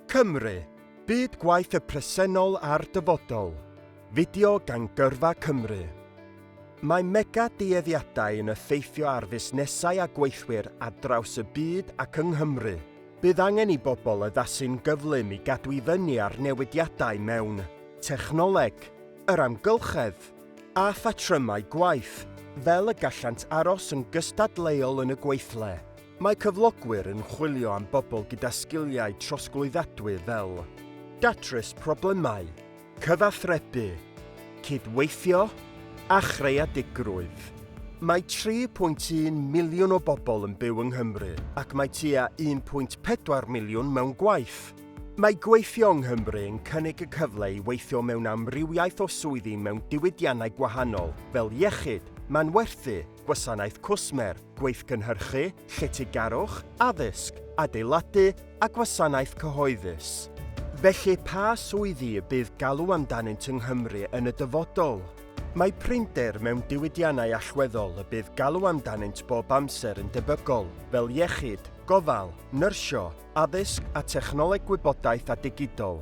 Cymru, Byd Gwaith y Presennol a'r Dyfodol, fideo gan Gyrfa Cymru. Mae mega dueddiadau yn effeithio ar fusnesau a gweithwyr ar draws y byd ac yng Nghymru. Bydd angen i bobl addasu'n gyflym i gadw i fyny â'r newidiadau mewn technoleg, yr amgylchedd, a phatrymau gwaith, fel y gallant aros yn gystadleuol yn y gweithle. Mae cyflogwyr yn chwilio am bobl gyda sgiliau trosglwyddadwy fel. Datrys problemau, cyfathrebu, cydweithio a chreadigrwydd. Mae 3.1 miliwn o bobl yn byw yng Nghymru ac mae tua 1.4 miliwn mewn gwaith. Mae gweithio yng Nghymru yn cynnig y cyfle i weithio mewn amrywiaeth o swyddi mewn diwydiannau gwahanol fel iechyd, manwerthu, gwasanaeth cwsmer, gweithgynhyrchu, lletygarwch, addysg, adeiladu a gwasanaeth cyhoeddus. Felly, pa swyddi y bydd galw amdanynt yng Nghymru yn y dyfodol? Mae prinder mewn diwydiannau allweddol y bydd galw amdanynt bob amser yn debygol, fel iechyd, gofal, nyrsio, addysg a technoleg gwybodaeth a digidol.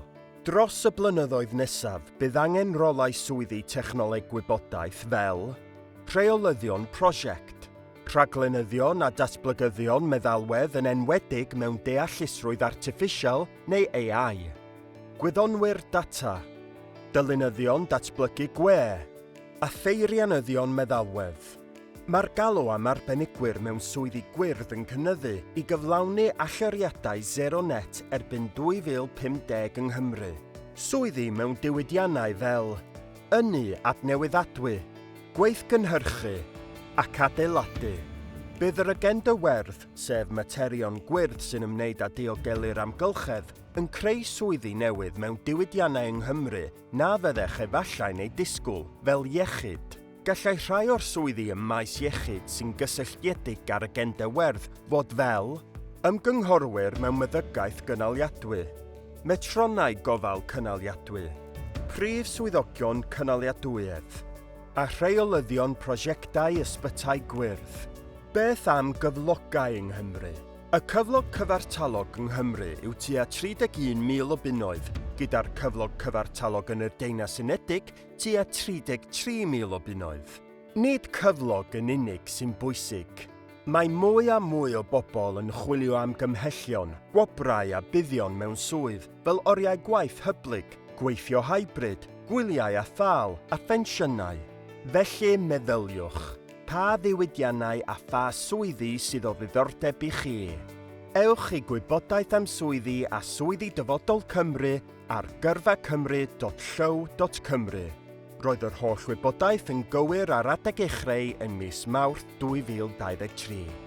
Dros y blynyddoedd nesaf, bydd angen rolau swyddi Technoleg Gwybodaeth fel Rheolyddion Prosiect, Rhaglenyddion a Datblygyddion Meddalwedd yn enwedig mewn Deallusrwydd Artiffisial neu AI, Gwyddonwyr Data, Dylunyddion Datblygu Gwe a Pheirianyddion Meddalwedd. Mae'r galw am arbenigwyr mewn swyddi gwyrdd yn cynyddu i gyflawni allyriadau sero net erbyn 2050 yng Nghymru. Swyddi mewn diwydiannau fel ynni adnewyddadwy, gweithgynhyrchu ac adeiladu. Bydd yr agenda werdd, sef materion gwyrdd sy'n ymwneud â diogelu'r amgylchedd, yn creu swyddi newydd mewn diwydiannau yng Nghymru na fyddech efallai'n eu disgwyl, fel iechyd, Gallai rhai o'r swyddi ym maes iechyd sy'n gysylltiedig â'r agenda werdd fod fel, ymgynghorwyr mewn meddygaeth gynaliadwy, metronnau gofal cynaliadwy, prif swyddogion cynaliadwyedd, a rheolyddion prosiectau ysbytai gwyrdd. Beth am gyflogau yng Nghymru? Y cyflog cyfartalog yng Nghymru yw tua 31,000 o bunnoedd, gyda'r cyflog cyfartalog yn y Deyrnas Unedig tua 33,000 o bunnoedd. Nid cyflog yn unig sy'n bwysig. Mae mwy a mwy o bobl yn chwilio am gymhellion, gwobrau a buddion mewn swydd fel oriau gwaith hyblyg, gweithio hybrid, gwyliau a thâl, a phensiynau. Felly, meddyliwch, pa ddiwydiannau a pha swyddi sydd o ddiddordeb i chi? Ewch i Gwybodaeth am Swyddi a Swyddi Dyfodol Cymru Ar gyrfacymru.llyw.cymru, roedd yr holl wybodaeth yn gywir ar adeg ei chreu yn mis Mawrth 2023.